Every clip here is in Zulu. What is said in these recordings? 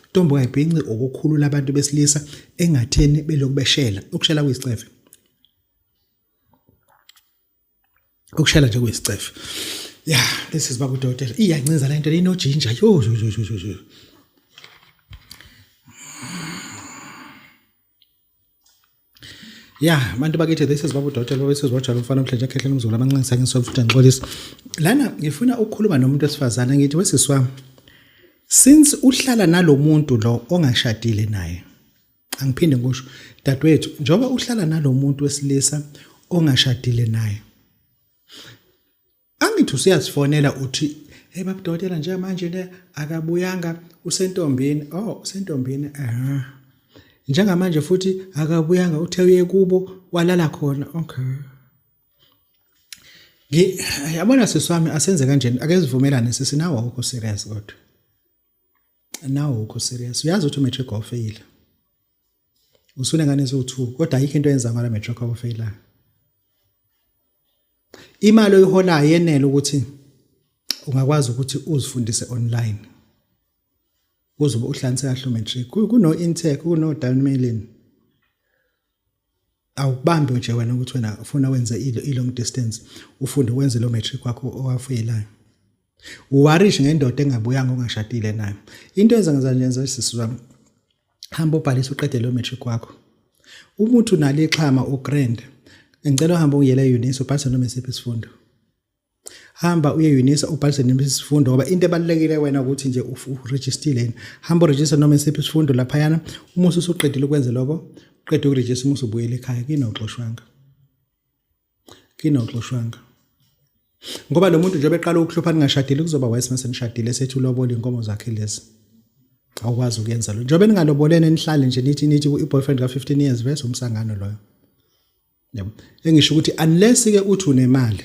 Ntombo kayibhinci ukukhulula abantu besilisa engatheni belokhu beshela. Ukushela kuyisicefe. Ukushela nje kuyisicefe. Ya, this is babu dokotela. Iyancinza lento lino ginger. Yo yo yo yo yo. ya yeah, bantu bakithi this is babu dotela wesizwe wajalo mfana mhlanje akhehlele umzulu amancinisa ngisolo futhi ngixolisa lana ngifuna ukukhuluma nomuntu wesifazane ngithi wesisi wami since uhlala nalomuntu lo ongashadile naye angiphinde ngisho dadwethu njengoba uhlala nalomuntu wesilisa ongashadile naye angithi useyazifonela uthi hey babudokotela nje manje ne akabuyanga usentombini oh usentombini aha njengamanje futhi akabuyanga uthe uye kubo walala khona okay ngi yabona siswami asenze kanjena ake sivumelane sisi nawo ukho serious kodwa nawo ukho serious uyazi ukuthi umatric ofeyila usune ngane so2 kodwa ayikho into yenza ngala matric ofeyila Imali oyiholayo yenele ukuthi ungakwazi ukuthi uzifundise online. Uzobe uhlanise kahle umatric. Kuno intech, kuno dalmelin. Awubambi nje wena ukuthi wena ufuna wenze i long distance, ufunde wenze lo matric wakho owafeyelayo. uwarish ngendoda engabuyanga ongashadile nayo into enza ngenza nje ngenza sisi wami hamba ubhalisa uqede lo matric wakho umuntu unalo ixhama ugrand ngicela uhambe uyele eUnisa ubhalise noma isiphi isifundo hamba uye eUnisa ubhalise noma isifundo ngoba into ebalulekile wena ukuthi nje uregistile yini hamba uregister noma isiphi isifundo lapha yana uma usuqedile ukwenza lokho uqede ukurejista uma usubuyela ekhaya kinoxoshwanga kini awuxoshwanga ngoba lo muntu njengoba eqala ukuhlupha ningashadile kuzoba wise mase nishadile sethi ulobola inkomo zakhe lezi awukwazi ukuyenza lo njengoba ningalobolene nihlale nje nithi nithi i-boyfriend ka-15 years vese umsangano loyo yabo engisho ukuthi unless ke uthi unemali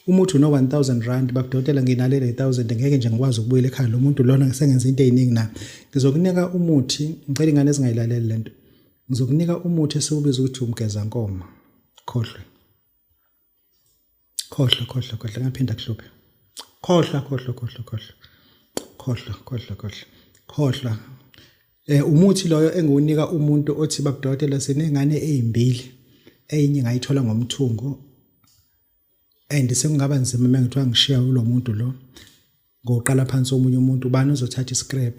uma uthi uno 1000 rand bakudotela nginalele 1000 ngeke nje ngikwazi ukubuyela ekhaya lo muntu lona ngisengenza into eziningi na ngizokunika umuthi ngicela ingane ezingayilaleli lento Ngizokunika umuthi esiwubiza ukuthi umgezankomo. Khohlwe. Khohlwe, khohlwe, khohlwe. Ngaphinda kuhluphe. Khohlwa, khohlwa, khohlwa, khohlwa. Khohlwa, khohlwa, khohlwa. Khohlwa. Eh umuthi loyo engiwunika umuntu othi babudokotela sinengane ezimbili. Eyinye ngayithola ngomthungo and sekungaba nzima uma ngithiwa ngishiya kulo muntu lo ngoqala phansi omunye umuntu ubani ozothatha iscrap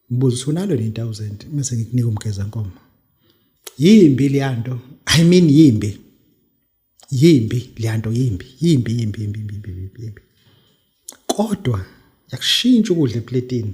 mbuzo sunalo ni 1000 mase ngikunika umgeza nkomo yimbi liyanto i mean yimbi yimbi liyanto yimbi yimbi yimbi yimbi yimbi yimbi kodwa yakushintsha ukudla epletini